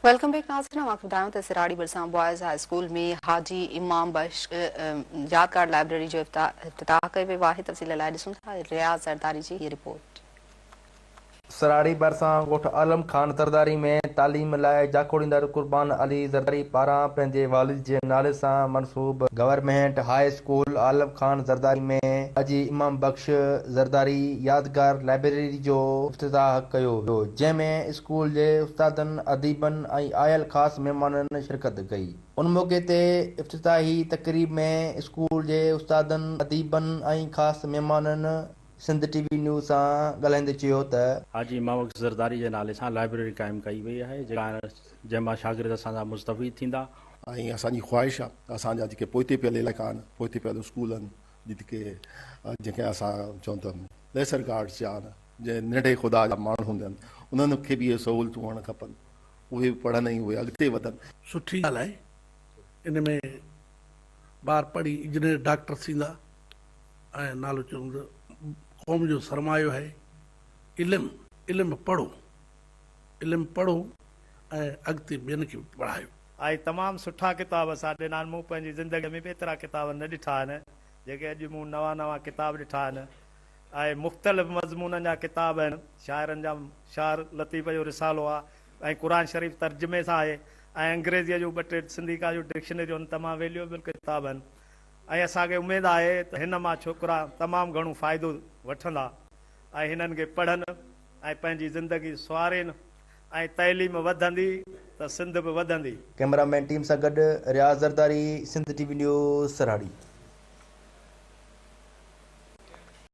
Welcome back ناظرين اوهان کي ٻڌايون ته سراڙي ڀرسان boys high school ۾ Haji Imam Bakhsh Yadgar library جو افتتاح ڪيو ويو آهي تفصيل لاء ڏسون ٿا رياض زرداري جي هي رپورٽ. سراڙي ڀرسان ڳوٺ عالم خان زرداري ۾ تعليم لاء جاکوڙيندڙ قربان علي زرداري پاران پنهنجي والد جي نالي سان منسوب government high school Alam Khan Zardari ۾ Haji Imam Bux Zardari يادگار لائبريري جو افتتاح ڪيو ويو جنهن ۾ اسڪول جي استادن، اديبن ۽ آيل خاص مهمانن شرڪت ڪئي. ان موقعي تي افتتاحي تقريب ۾ اسڪول جي استادن، اديبن ۽ خاص مهمانن سنڌ ٽي وي نيوز سان ڳالهائيندي چيو ته. حاجي مئوڪس زرداري جي نالي سان لائبريري قائم ڪئي وئي آهي جنهن مان شاگرد اسان جا مستفيد ٿيندا. ۽ اسان جي خواهش آهي ته اسان جا جيڪي پوئتي پيل علائقا آهن، پوئتي پيل اسڪول آهن، جيڪي جنهن کي اسان چئون ته ليسر گارڊس جا آهن، جي ننڍي خدا جا ماڻهو هوندن انهن کي به اهي سهولتون هئڻ کپن اهي به پڙهن ۽ اهي اڳتي وڌن. سٺي ڳالهه آهي ان ۾ ٻار پڙهي انجنيئر ڊاڪٽر ٿيندا ۽ نالو چون ته قوم جو سرمايو آهي علم علم پڙهو علم پڙهو ۽ اڳتي ٻين کي به پڙهايو. آهي تمام سٺا ڪتاب اسان ڏنا آهن مون پنهنجي زندگي ۾ به ايترا ڪتاب نه ڏٺا آهن جيڪي اڄ مون نوان نوان ڪتاب ڏٺا آهن آهي. مختلف مضمونن جا ڪتاب آهن. شاعرن جا شعر لطيف جو رسالو آهي ۽ قرآن شريف ترجمي سان آهي ۽ انگريزيء جون ٻه ٽي سنڌي ڪايون ڊڪشنريون هن تمام ويليوئبل ڪتاب آهن ۽ اسان کي اميد آهي ته هن مان ڇوڪرا تمام گهڻو فائدو وٺندا ۽ هنن کي پڙهن ۽ پنهنجي زندگي سنوارين ۽ تعليم وڌندي ته سنڌ به وڌندي. ڪئميرا مين ٽيم سان گڏ Riaz Zardari Sindh T V news Sarhari.